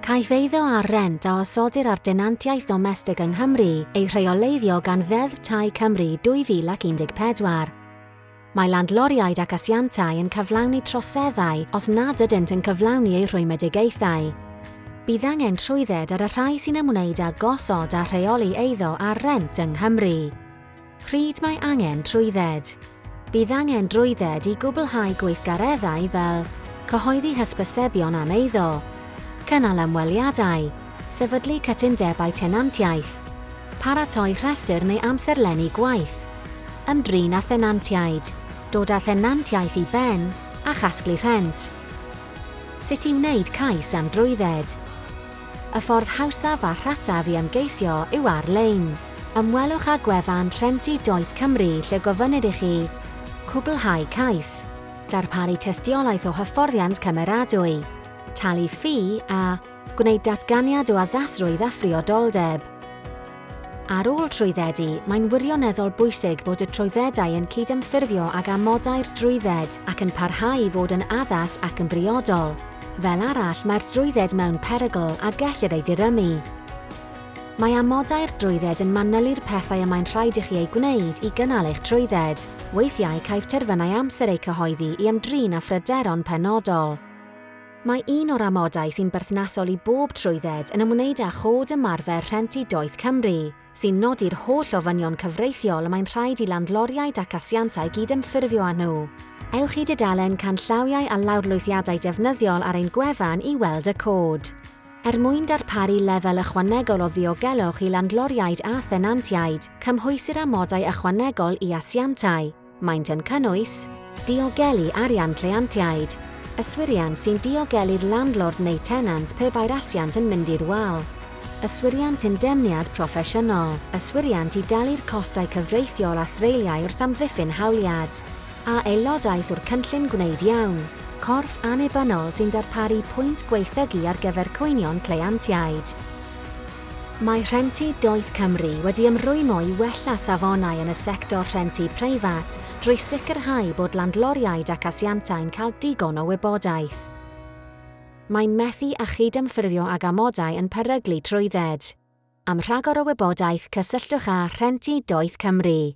Caiff eiddo ar rent a osodir ar denantiaeth ddomestig yng Nghymru ei rheoleiddio gan Ddeddf Tai Cymru 2014. Mae landloriaid ac asiantau yn cyflawni troseddau os nad ydynt yn cyflawni eu rhwymedigaethau. Bydd angen trwydded ar y rhai sy'n ymwneud â gosod a rheoli eiddo ar rent yng Nghymru. Pryd mae angen trwydded? Bydd angen drwydded i gwblhau gweithgareddau fel cyhoeddi hysbysebion am eiddo, cynnal ymweliadau, sefydlu cytundebau tenantiaeth, paratoi rhestr neu amserlennu gwaith, ymdrin â thenantiaid, dod â thenantiaeth i ben a chasglu rhent. Sut i wneud cais am drwydded? Y ffordd hawsaf a rhataf i ymgeisio yw ar-lein. Ymwelwch â gwefan Rhentu Doeth Cymru lle gofynnir i chi cwblhau cais, darparu tystiolaeth o hyfforddiant cymeradwy, talu ffi a gwneud datganiad o addasrwydd a phriodoldeb. Ar ôl trwyddedu, mae'n wirioneddol bwysig bod y trwyddedau yn cydymffurfio ag amodau'r drwydded ac yn parhau i fod yn addas ac yn briodol. Fel arall, mae'r drwydded mewn perygl a gellir ei dirymu. Mae amodau'r drwydded yn manylu'r pethau y mae'n rhaid i chi eu gwneud i gynnal eich trwydded. Weithiau caiff terfynau amser eu cyhoeddi i ymdrin â phryderon penodol. Mae un o'r amodau sy'n berthnasol i bob trwydded yn ymwneud â Chod Ymarfer Rhent i Doeth Cymru, sy'n nodi'r holl ofynion cyfreithiol y mae'n rhaid i landloriaid ac asiantau gydymffurfio â nhw. Ewch i dudalen Canllawiau a Lawrlwythiadau Defnyddiol ar ein gwefan i weld y cod. Er mwyn darparu lefel ychwanegol o ddiogelwch i landloriaid a thenantiaid, cymhwysir amodau ychwanegol i asiantau. Maent yn cynnwys, diogelu arian cleiantiaid, yswiriant sy'n diogelu'r landlord neu tenant pe bai'r asiant yn mynd i'r wal, yswiriant indemniad proffesiynol, yswiriant i dalu'r costau cyfreithiol a threuliau wrth amddiffyn hawliad, a aelodaeth o'r cynllun gwneud iawn, corff annibynnol sy'n darparu pwynt gwaethygu ar gyfer cwynion cleiantiaid. Mae Rhentu Doeth Cymru wedi ymrwymo i wella safonau yn y sector rhentu preifat drwy sicrhau bod landloriaid ac asiantau'n cael digon o wybodaeth. Mae methu â chydymffurfio ag amodau yn peryglu trwydded. Am rhagor o wybodaeth cysylltwch â Rhentu Doeth Cymru.